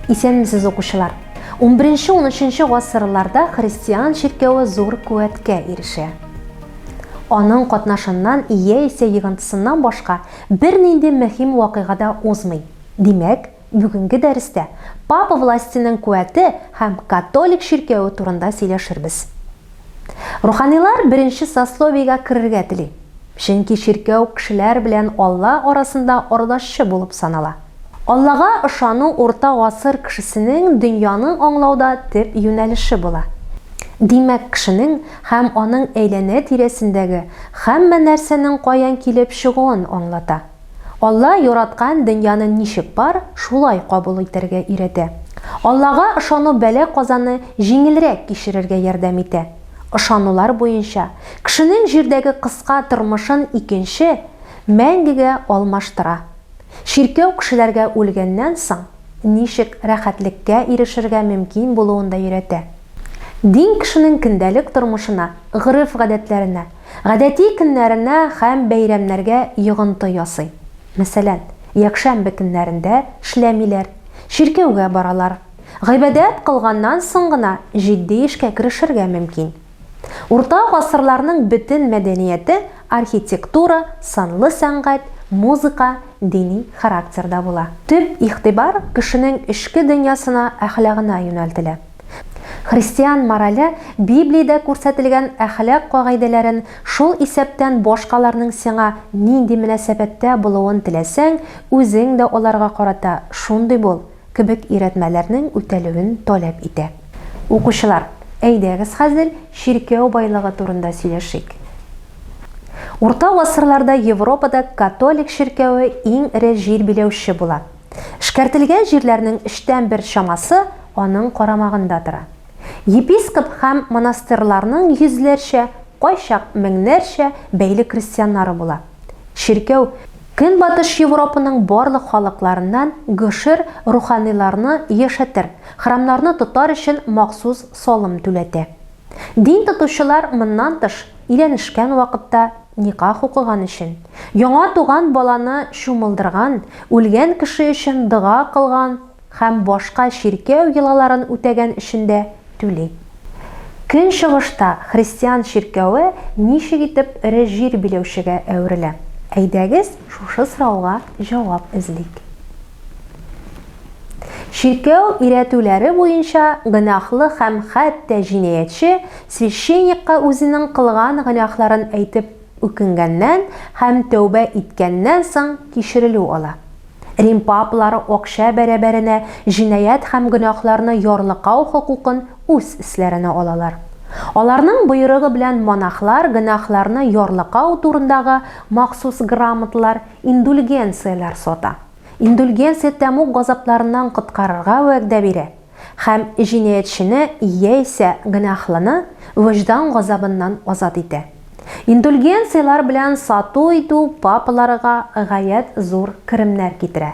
Исәнмесез, укучылар! 11-13 гасырларда христиан чиркәве зур куәткә ирешә. Аның катнашыннан яисә егынтысыннан башка бернинди мөһим вакыйга да узмый. Димәк, Бүгенге дәрестә папа властеның куәте һәм католик чиркәве турында сөйләшербез. Руханилар беренче сословиегә керергә тели, чөнки чиркәү кешеләр белән Алла арасында ардашчы булып санала. Аллага ышану урта гасыр кешесенең дөньяны аңлауда төп юнәлеше була. Димәк, кешенең һәм аның әйләнә-тирәсендәге һәммә нәрсәнең каян килеп чыгуын аңлата. Алла яраткан дөньяны ничек бар, шулай кабул итәргә өйрәтә. Аллага ышану бәла-казаны җиңелрәк кичерергә ярдәм итә. Ышанулар буенча, кешенең җирдәге кыска тормышын икенче, мәңгегә алмаштыра. Чиркәү кешеләргә үлгәннән соң ничек рәхәтлеккә ирешергә мөмкин булуын да өйрәтә. Дин кешенең көндәлек тормышына, гореф-гадәтләренә, Гадәти көннәренә һәм бәйрәмнәргә йогынты ясый. Мәсәлән, якшәмбе көннәрендә эшләмиләр, чиркәүгә баралар. Гыйбадәт кылганнан соң гына җитди эшкә керешергә мөмкин. Урта гасырларның бөтен мәдәнияте архитектура, сынлы сәнгать, музыка дини характерда була. Төп игътибар кешенең эчке дөньясына, әхлагына юнәлтелә. Христиан морале Библиядә күрсәтелгән әхлак кагыйдәләрен, шул исәптән башкаларның сиңа нинди мөнәсәбәттә булуын теләсәң, үзең дә аларга карата шундый бул, кебек өйрәтмәләрнең үтәлүен таләп итә. Укучылар, әйдәгез хәзер чиркәү байлыгы турында сөйләшик. Урта гасырларда Европада католик чиркәве иң эре җир биләүче була. Эшкәртелгән җирләрнең өчтән бер чамасы аның карамагында тора. Епископ һәм монастырьларның йөзләрчә, кайчак меңнәрчә бәйле крестьяннары була. Чиркәү Көнбатыш Европаның барлык халыкларыннан гошер руханиларны яшәтер, храмнарны тотар өчен махсус салым түләтә. Дин тотучылар моннан тыш, өйләнешкән вакытта никах укыган өчен, яңа туган баланы чумылдырган, үлгән кеше өчен дога кылган һәм башка чиркәү йолаларын үтәгән өчен дә түли. Көнчыгышта христиан чиркәве ничек итеп эре җир биләүчегә әверелә? Әйдәгез, шушы сорауга җавап эзлик. Чиркәү өйрәтүләре буенча гөнаһлы һәм хәтта җинаятьче священникка үзенең кылган гөнаһларын әйтеп үкенгәннән һәм тәүбә иткәннән соң кичерелү ала. Рим папалары акча бәрабәренә җинаять һәм гөнаһларны ярлыкау хокукын үз өсләренә алалар. Аларның боерыгы белән монахлар гөнаһларны ярлыкау турындагы махсус грамоталар Индульгенцияләр сата. Индульгенция тәмуг газапларыннан коткарырга вәгъдә бирә һәм җинаятьчене яисә гөнаһлыны вөҗдан газабыннан азат итә. Индульгенцияләр белән сату-итү папаларга гаять зур керемнәр китерә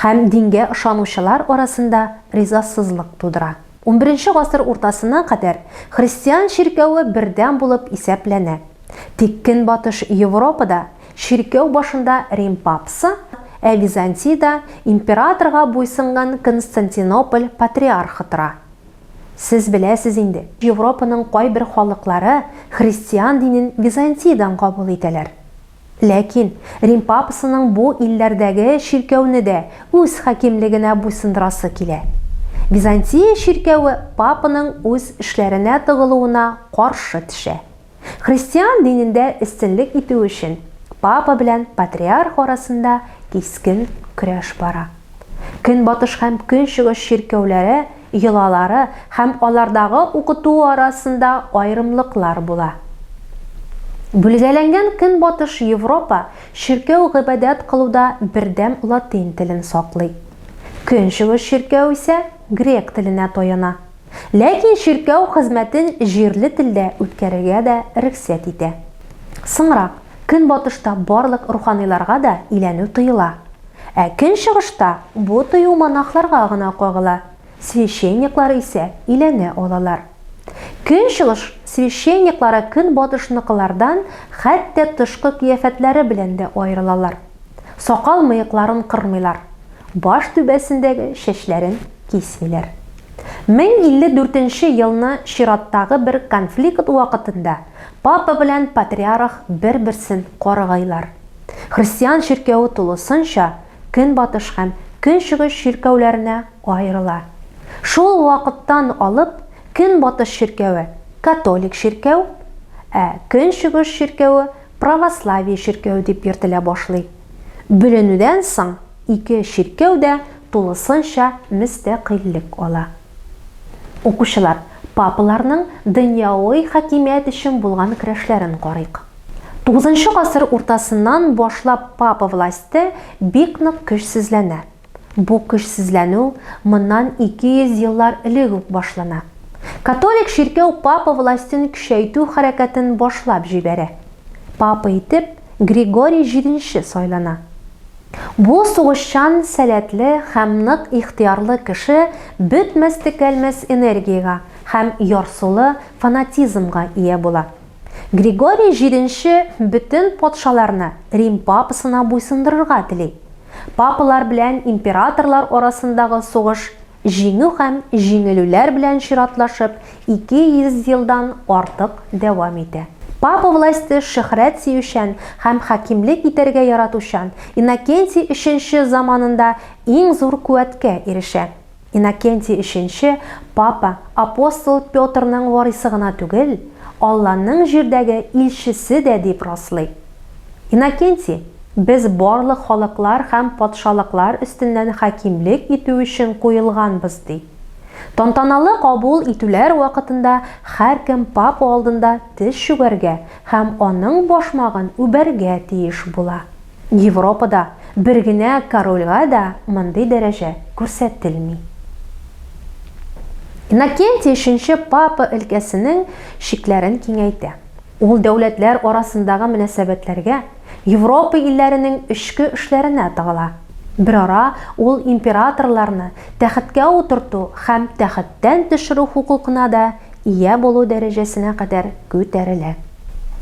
һәм дингә ышанучылар арасында ризасызлык тудыра. Унберенче гасыр уртасына кадәр христиан чиркәве бердәм булып исәпләнә. Тик Көнбатыш Европада чиркәү башында Рим папсы, ә Византиядә императорга буйсынган Константинополь патриархы тора. Сез беләсез инде, Европаның кайбер халыклары христиан динен Византиядән кабул итәләр. Ләкин Рим папасының бу илләрдәге чиркәүне дә үз хакимлегенә буйсындырасы килә. Византия чиркәве папаның үз эшләренә тыгылуына каршы төшә. Христиан динендә өстенлек итү өчен папа белән патриарх арасында кискен көрәш бара. Көнбатыш һәм Көнчыгыш чиркәүләре йолалары һәм алардагы укыту арасында аерымлыклар була. Бүлгәләнгән Көнбатыш Европа чиркәү гыйбадәт кылуда бердәм латин телен саклый. Көнчыгыш чиркәү исә грек теленә таяна. Ләкин чиркәү хезмәтен җирле телдә үткәрергә дә рөхсәт итә. Соңрак, Көнбатышта барлык руханиларга да иләнү тыела. Ә көнчыгышта бу тыю монахларга гына кагыла, священниклар исә иләнә алалар. Көнчыгыш священниклары көнбатышныкылардан хәтта тышкы кыяфәтләре белән дә аерылалар. Сакал-мыекларын кырмыйлар, баш түбәсендәге чәчләрен кисмиләр. 1054 елны чираттагы бер конфликт вакытында папа белән патриарх бер-берсен каргыйлар. Христиан чиркәве тулысынча Көнбатыш һәм Көнчыгыш чиркәүләренә аерыла. Шул вакыттан алып Көнбатыш чиркәве, католик чиркәү, ә Көнчыгыш чиркәве, православие чиркәү дип йөртелә башлый. Бүленүдән соң ике чиркәү дә тулысынча мөстәкыйльлек ала. Укучылар, папаларның дөньяви хакимият өчен булган көрәшләрен карыйк. Тугызынчы гасыр уртасыннан башлап папа власте бик нык көчсезләнә. Бу көчсезләнү моннан 200 еллар элек үк башлана. Католик чиркәү папа властен көчәйтү хәрәкәтен башлап җибәрә. Папа итеп Григорий җиденче сайлана. Бу сугышчан, сәләтле һәм нык ихтыярлы кеше бетмәс-төкәлмәс энергиягә һәм ярсулы фанатизмга ия була. Григорий җиденче бөтен патшаларны Рим папасына буйсындырырга тели. Папалар белән императорлар арасындагы сугыш җиңү һәм җиңелүләр белән чиратлашып, 200 елдан артык дәвам итә. Папа власте шөһрәт сөючән һәм хакимлек итәргә яратучан Иннокентий өченче заманында иң зур куәткә ирешә. Иннокентий өченче папа апостол Петрның варыйсы гына түгел, Алланың җирдәге илчесе дә дип раслый. Иннокентий, Без барлык халыклар һәм патшалыклар өстеннән хакимлек итү өчен куелганбыз, ди. Тантаналы кабул итүләр вакытында һәркем папа алдында тез чүгәргә һәм аның башмагын үбәргә тиеш була. Европада бер генә корольгә дә мондый дәрәҗә күрсәтелми. Иннокентий өченче папа өлкәсенең чикләрен киңәйтә. Ул дәүләтләр арасындагы мөнәсәбәтләргә, Европа илләренең эчке эшләренә тыгыла. Берара ул императорларны тәхеткә утырту һәм тәхеттән төшерү хокукына да ия булу дәрәҗәсенә кадәр күтәрелә.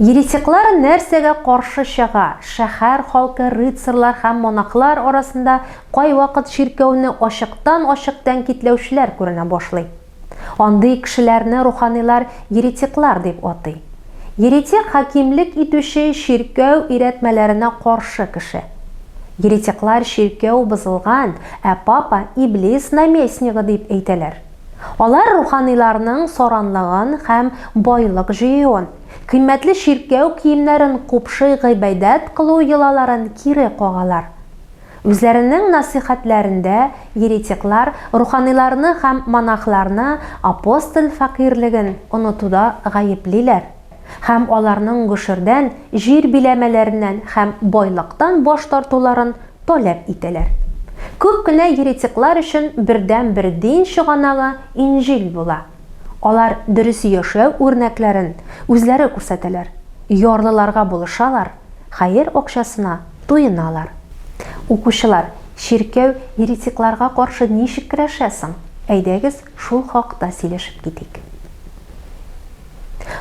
Еретиклар нәрсәгә каршы чыга? Шәһәр халкы, рыцарьлар һәм монахлар арасында кайвакыт чиркәүне ачыктан-ачык тәнкитләүчеләр күренә башлый. Андый кешеләрне руханилар еретиклар дип атый. Еретик хакимлек итүче чиркәү өйрәтмәләренә каршы кеше. Еретиклар чиркәү бозылган, ә папа, иблис наместнигы дип әйтәләр. Алар руханиларның саранлыгын һәм байлык җыюын, кыйммәтле чиркәү киемнәрен купшый гыйбадәт кылу йолаларын кире кагалар. Үзләренең насыйхәтләрендә еретиклар руханиларны һәм монахларны апостоль фәкыйрьлеген онытуда гаеплиләр. һәм аларның гошердән, җир биләмәләреннән һәм байлыктан баш тартуларын таләп итәләр. Күп кенә еретиклар өчен бердәнбер дин чыганагы Инҗил була. Алар дөрес яшәү үрнәкләрен үзләре күрсәтәләр, ярлыларга булышалар, хәер акчасына туеналар. Укучылар, чиркәү еретикларга каршы ничек көрәшә соң? Әйдәгез, Шул хакта сөйләшеп китик.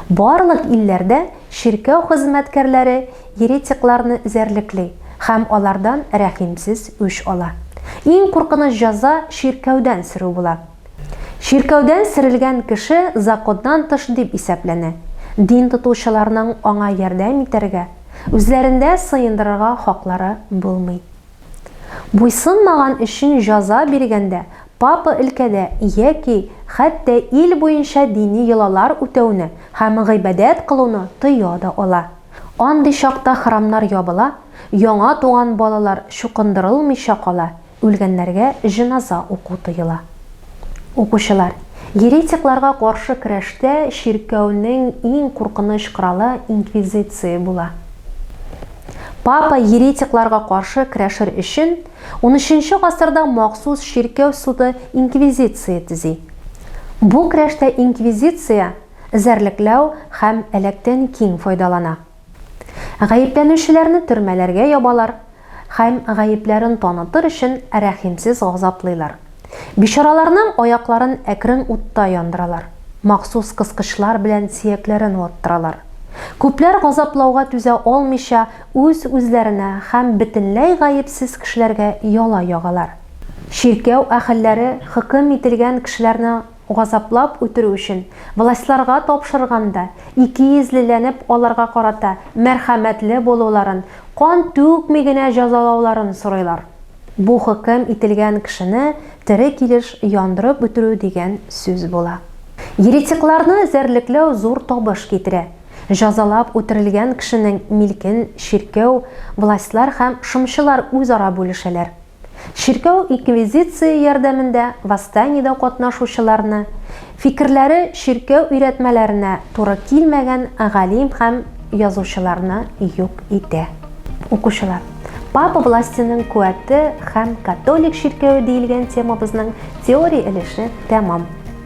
Барлык илләрдә чиркәү хезмәткәрләре еретикларны эзәрлекли һәм алардан рәхимсез үч ала. Иң куркыныч җәза чиркәүдән сөрү була. Чиркәүдән сөрелгән кеше законнан тыш дип исәпләнә, дин тотучыларның аңа ярдәм итәргә, үзләрендә сыендырырга хаклары булмый. Буйсынмаган өчен җаза биргәндә, папа өлкәдә яки хәтта ил буенча дини йолалар үтәүне һәм гыйбадәт кылуны тыя да ала. Андый чакта храмнар ябыла, яңа туган балалар чукындырылмыйча кала, үлгәннәргә җеназа уку тыела. Укучылар, еретикларга каршы көрәштә чиркәүнең иң куркыныч коралы инквизиция була. Папа еретикларга каршы көрәшер өчен, унөченче гасырда махсус чиркәү суды инквизиция төзи. Бу көрәштә инквизиция эзәрлекләү һәм әләктән киң файдалана. Гаепләнүчеләрне төрмәләргә ябалар һәм гаепләрен танытыр өчен рәхимсез газаплыйлар. Бичараларның аякларын әкрен утта яндыралар, махсус кыскычлар белән сөякләрен ваттыралар. Күпләр газаплауга түзә алмыйча, үз-үзләренә һәм бөтенләй гаепсез кешеләргә яла ягалар. Чиркәү әһелләре хөкем ителгән кешеләрне газаплап үтерү өчен властьларга тапшырганда, икейөзлеләнеп аларга карата мәрхәмәтле булуларын, кан түкми генә җәзалауларын сорыйлар. Бу хөкем ителгән кешене тере килеш яндырып үтерү дигән сүз була. Еретикларны эзәрлекләү зур табыш китерә. Җәзалап үтерелгән кешенең милкен чиркәү властьлар һәм шымчылар үзара бүлешәләр. Чиркәү инквизиция ярдәмендә восстаниедә катнашучыларны, фикерләре чиркәү өйрәтмәләренә туры килмәгән галим һәм язучыларны юк итә. Укучылар, папа властеның куәте һәм католик чиркәве диелгән темабызның теория өлеше тәмам.